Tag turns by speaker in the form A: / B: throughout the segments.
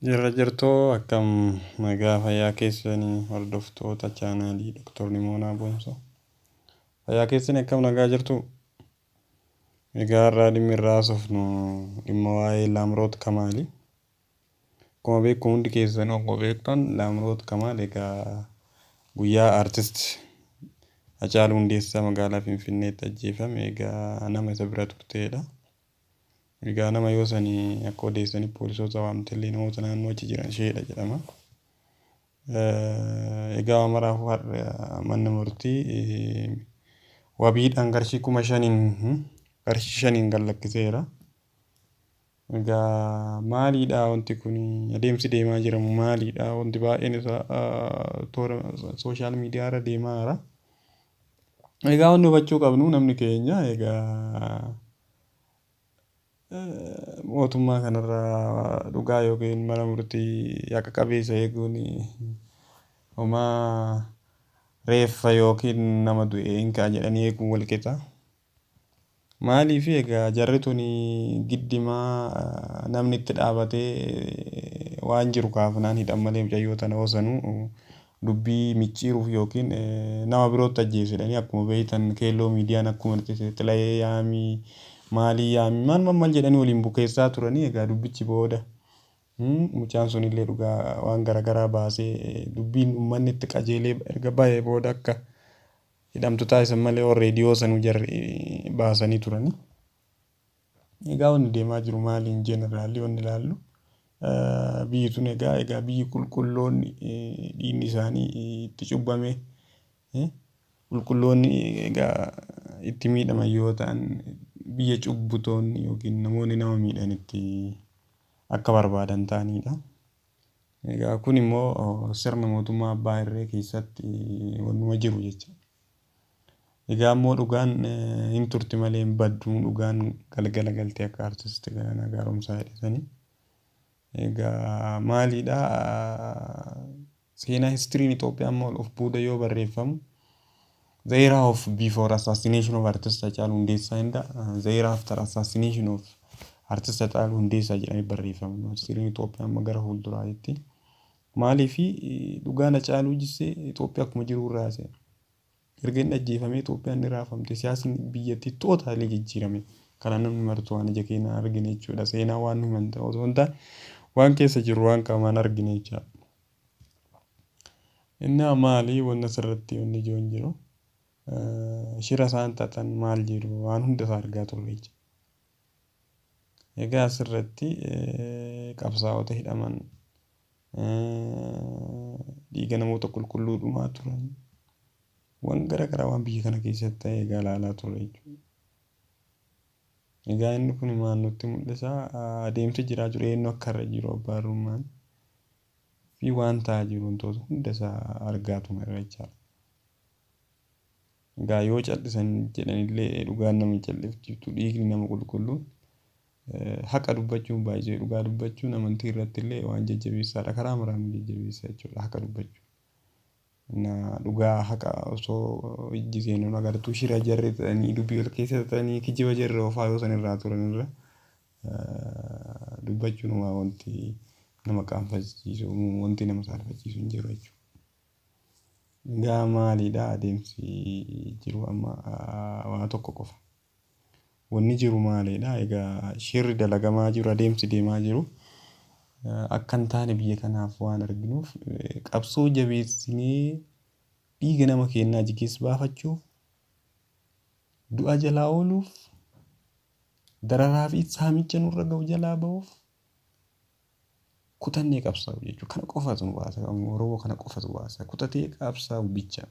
A: Jirra jirtuu akkam nagaa fayyaa keessani hordoftoota chaanaalii Doktor Nimoonaa Boonsoo. Fayyaa keessani akkam nagaa jirtuu? Egaa har'aa dhimmi irraa haasofnu dhimma waa'ee Laamroot Kamaali. Akkuma beeku hundi keessan akkuma beektan Laamroot Kamaal egaa guyyaa artist Hacaaluu Hundeessaa magaalaa Finfinneetti ajjeefame egaa nama isa bira turteedha. Egaa nama yoo sani akka odeessanitti poolisoota waamtellee namoota naannoo achi jiran isheedha jedhama. Egaa amaraafuu har'a manni murtii wabiidhaan qarshii kuma shaniin qarshii shaniin gad lakkiseera. Egaa maaliidha wanti kun adeemsi deemaa jiramu maaliidha wanti baay'een isaa toora sooshaal miidiyaa irra deemaa jira. Egaa wanni hubachuu qabnu namni keenya egaa mootummaa kanarraa dhugaa yookiin mana murtii haqa qabeessa eeguun homaa reeffa yookiin nama du'e hin ka'a jedhanii eeguun wal qixa. Maaliif egaa jarri tuni giddimaa namni itti dhaabatee waan jiru kaafnaan hidhan malee mucayyoo tana hoo sanuu dubbii micciiruuf ykn nama birootti ajjeesi jedhanii akkuma beektan keelloo miidiyaan akkuma dhiqise xilayee yaami maalii yaami maal maal maal jedhanii waliin bukeessaa turanii egaa dubbichi booda mucaan sunillee dhugaa waan garagaraa baasee dubbiin ummanni itti qajeelee erga bahee booda akka hidhamtu taasisan malee warri reediyoo sanuu jarri baasanii turanii. Egaa wanni deemaa jiru maali in general wanni ilaallu biyyi tun egaa egaa biyyi qulqulloonni dhiinni isaanii itti cubbame qulqulloonni egaa itti miidhaman yoo ta'an biyya cubbutoonni yookiin namoonni nama miidhan itti akka barbaadan ta'aniidha. Egaa kun immoo sirna mootummaa abbaa irree keessatti wannuma jiru jecha. Egaa ammoo dhugaan hin turti malee hin baddu dhugaan galgala galti akka artisti Galaanaa Gaaromsaa jedhe sani. Egaa maaliidha seenaa histiriin Itoophiyaa immoo of booda yoo barreeffamu the era of before assassination of artist Hacaaluu Hundeessaa inda the era after assassination of artist Hacaaluu Hundeessaa jedhamee barreeffama. Histiriin Itoophiyaa amma gara fuulduraatti. Maaliif dhugaan Hacaaluu jissee Itoophiyaa akkuma jiruu irra haasa'e. Erga inni ajjeefamee Itoophiyaan ni raafamte, siyaasni biyyattii totally jijjiirame. Kana namni martuu waan ija keenyaan argine jechuudha. Seenaa waan nu himan ta'uu osoo hin taane waan keessa jirru waan qaamaan argine jechaadha. Innaa maali wanni asirratti wanni ijoon jiru shira isaan xaxan maal jedhu waan hunda isaa argaa turre jecha. Egaa asirratti qabsaa'ota hidhaman dhiiga namoota qulqulluu dhumaa turan waan gara garaa waan biyya kana keessatti ta'e egaa ilaalaa turre jechuudha. Egaa inni kun maal nutti mul'isa adeemsa jiraa jiru eenyu akka irra jiru abbaa irrummaan fi waan ta'aa jiru wantoota hunda isaa argaa tumeera jechaadha. Egaa yoo cal'isan jedhanillee dhugaan nama hin callifchiiftu dhiigni nama qulqulluun haqa dubbachuun baay'isee dhugaa dubbachuun amantii irrattillee waan jajjabeessaadha karaa maraan nu jajjabeessa jechuudha haqa dubbachuu na dhugaa haqa osoo ijji keenya nu agartuu shira jarri ta'anii dubbii wal keessa ta'anii kijiba jarri oofaa yoo san irraa turan irra dubbachuun waa wanti nama qaanfachiisu wanti nama saalfachiisu hin jiru jechuudha. Egaa maalidha adeemsi jiru amma waa tokko qofa. Wanni jiru maalidha? Egaa shirri dalagamaa jiru adeemsi deemaa jiru akka hin taane biyya kanaaf waan arginuuf qabsoo jabeessinee dhiiga nama keenyaa jigee baafachuuf du'a jalaa ooluuf dararaa fi saamicha nurra ga'u jalaa ba'uuf Kutannee qabsaa'uu jechuun kana qofatu nu baasa Oromoo kana qofatu baasa kutatee qabsaa'uu bicha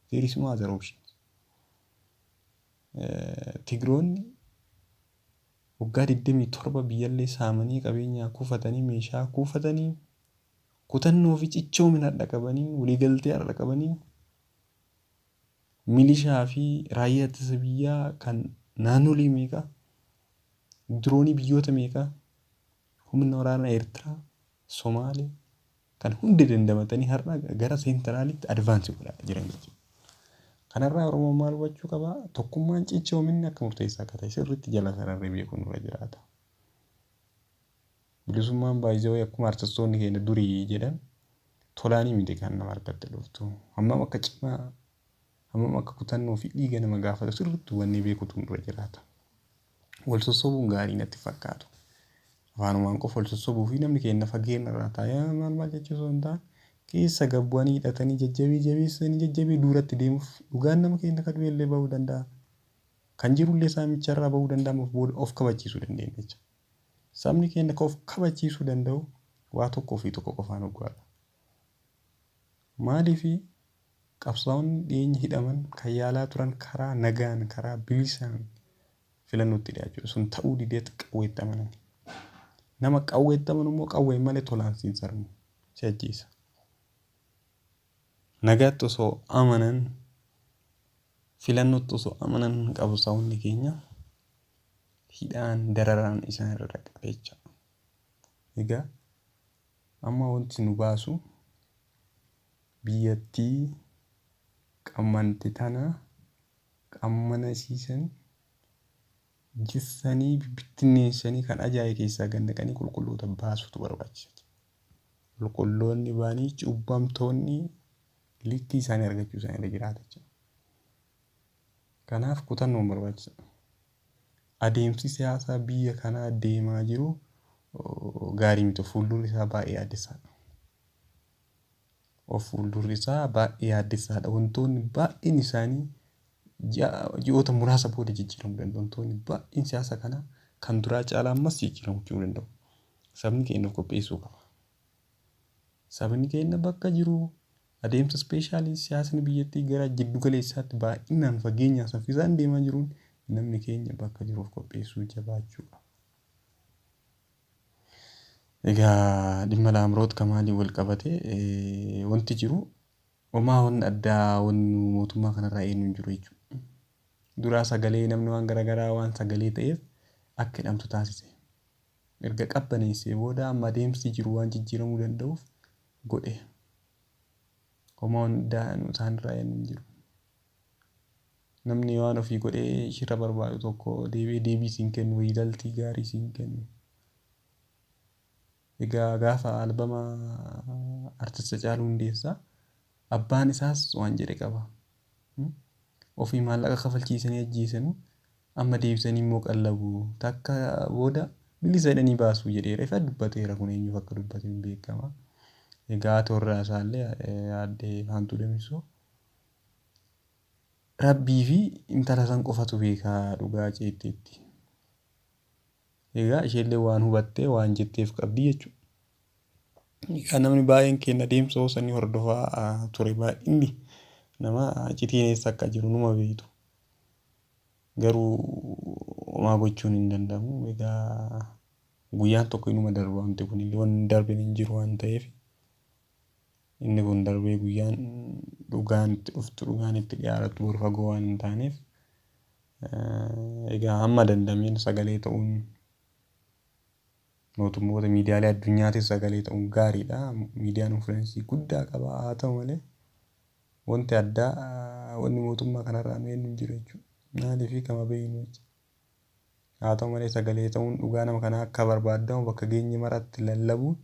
A: there is no other option. Tigroonni waggaa 27 biyyallee saamanii qabeenyaa kuufatanii meeshaa kuufatanii kutannoo fi cichoomina har'a qabaniin waliigaltee har'a qabaniin milishaa fi raayyaa ittisa biyyaa kan naannolee meeqa diroonii biyyoota meeqa Humni waraana Ertiraa, Somaalee kan hundi dandamatanii har'a gara seentiraalitti advaansi godhaa jiran jechuudha. Kanarraa Oromoon maal hubachuu qaba? Tokkummaan cichoominni akka murteessaa akka ta'e sirriitti jala sararri beekuun irra jiraata. Bilisummaan baay'isawee akkuma artistoonni keenya durii jedhan tolaanii miti kan nama harkatti dhuftu. Hammam akka cimaa, hammam akka kutannoo fi dhiiga nama gaafatu sirriitti hubannee beekuutu irra jiraata. wal sossobuun gaarii natti hin fakkaatu. Afaanumaan qofa wal sossobuu fi namni keenya fageenya irraa taa'ee maal maal jechuu osoo hin taane keessa gad bu'anii hidhatanii jajjabii jabeessanii jajjabii duuratti deemuuf dhugaan nama keenya ka du'e illee ba'uu danda'a. Kan jiru illee saamicha irraa ba'uu danda'a ammaaf booda of kabachiisuu dandeenya jecha. Sabni keenya ka of kabachiisuu danda'u waa tokkoo fi tokko qofaan hoggaa dha. Maaliif qabsaa'onni dhiyeenya hidhaman kan yaalaa turan karaa nagaan, karaa bilisaan filannootti dhiyaachuudha. Sun ta'uu dideet qawweetti amanani. Nama qawweetti amanu immoo qawween malee tolaan siin sarmu, si ajjeesa. Nagaatti osoo amanan, filannootti osoo amanan qabsaa'onni keenya hidhaan dararaan isaan irra dhaqqabeecha. Egaa Amma wanti nu baasu biyyattii qammante tana qammana isii san jissanii bibbittinneessanii kan ajaaye keessaa gad naqanii qulqulloota baasuutu barbaachisa jedhe. Qulqulloonni ba'anii cubbamtoonni likkii isaanii argachuu isaanii irra jiraata jechuudha. Kanaaf kutannoon barbaachisa. Adeemsi siyaasaa biyya kanaa deemaa jiru gaarii miti. Of fuuldurri isaa baay'ee yaaddessaadha. Of fuuldurri isaa baay'ee yaaddessaadha. Wantoonni baay'een isaanii ji'oota muraasa booda jijjiiramuu danda'u. Wantoonni baay'een siyaasa kanaa kan duraa caalaa ammas jijjiiramuu danda'u. Sabni keenya of qopheessuu qaba. Sabni keenya bakka jiru Adeemsa ispeeshaalii siyaasni biyyattii gara jiddu galeessaatti baay'inaan, fageenyaan, saffisaan deemaa jiruun namni keenya bakka jiru of qopheessuu jabaachuu qaba. Egaa dhimma Laamroot Kamaaliin wal qabatee wanti jiru homaa wanni addaa wanni mootummaa kanarraa eenyu hin jiru jechuudha. Duraa sagalee namni waan garaagaraa waan sagalee ta'eef akka hidhamtu taasise. Erga qabbaneessee booda amma adeemsi jiru waan jijjiiramuu danda'uuf godhe homaa wanni daanu isaan irraa eegnu hin jiru. Namni waan ofii godhee ishirra barbaadu tokko deebi'ee deebii siin kennu riizaltii gaarii siin kennu. Egaa gaafa albama artist Hacaaluu Hundeessaa abbaan isaas waan jedhe qaba. Ofii maallaqa kafalchiisanii ajjeesanu, amma deebisanii immoo qallabu. Takka booda bilisa jedhanii baasu jedheera. Ifa dubbateera kun eenyuuf akka dubbate hin beekama. Egaa haati warraa isaallee aadde Faantuu Damisoo Rabbii fi intala san qofatu beeka dhugaa ceetteetti. Egaa isheellee waan hubattee waan jetteef qabdi jechuudha. Egaa namni baay'een keenya adeemsa hoosa ni hordofaa ture baay'inni nama icitiin eessa akka jiru numa beektu. Garuu homaa gochuun hin danda'amu. Egaa guyyaan tokko inuma darba wanti kun illee wanni hin darbine hin jiru waan ta'eef. Inni kun darbee guyyaan dhugaan itti dhuftu, dhugaan itti dhiyaarattu bor fagoo waan hin taaneef egaa hamma danda'ameen sagalee ta'uun mootummoota miidiyaalee addunyaatiif sagalee ta'uun gaariidha. Miidiyaan influensii guddaa qaba. Haa ta'u malee wanti addaa wanni mootummaa kanarraa nu eenyu jiru jechuudha. Maaliif kama beeknu jecha. Haa ta'u malee sagalee ta'uun dhugaa nama kanaa akka barbaadamu bakka geenye maratti lallabuun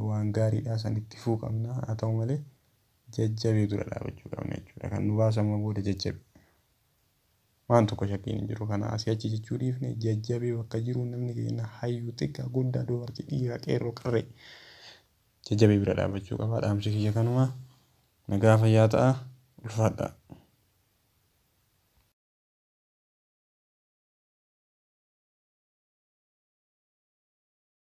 A: waan gaariidha san itti fufuu qabna haa ta'u malee jajjabee dura dhaabachuu qabna jechuudha kan nu baasu amma booda jajjabe waan tokko shakkiin hin jiru kana asii achi jechuu dhiifne jajjabee bakka jiru namni keenya hayyuu xiqqaa guddaa dubartii dhiiraa qeerroo qarree jajjabee bira dhaabachuu qaba dhaamsi kiyya kanuma nagaa fayyaa ta'a ulfaadhaa.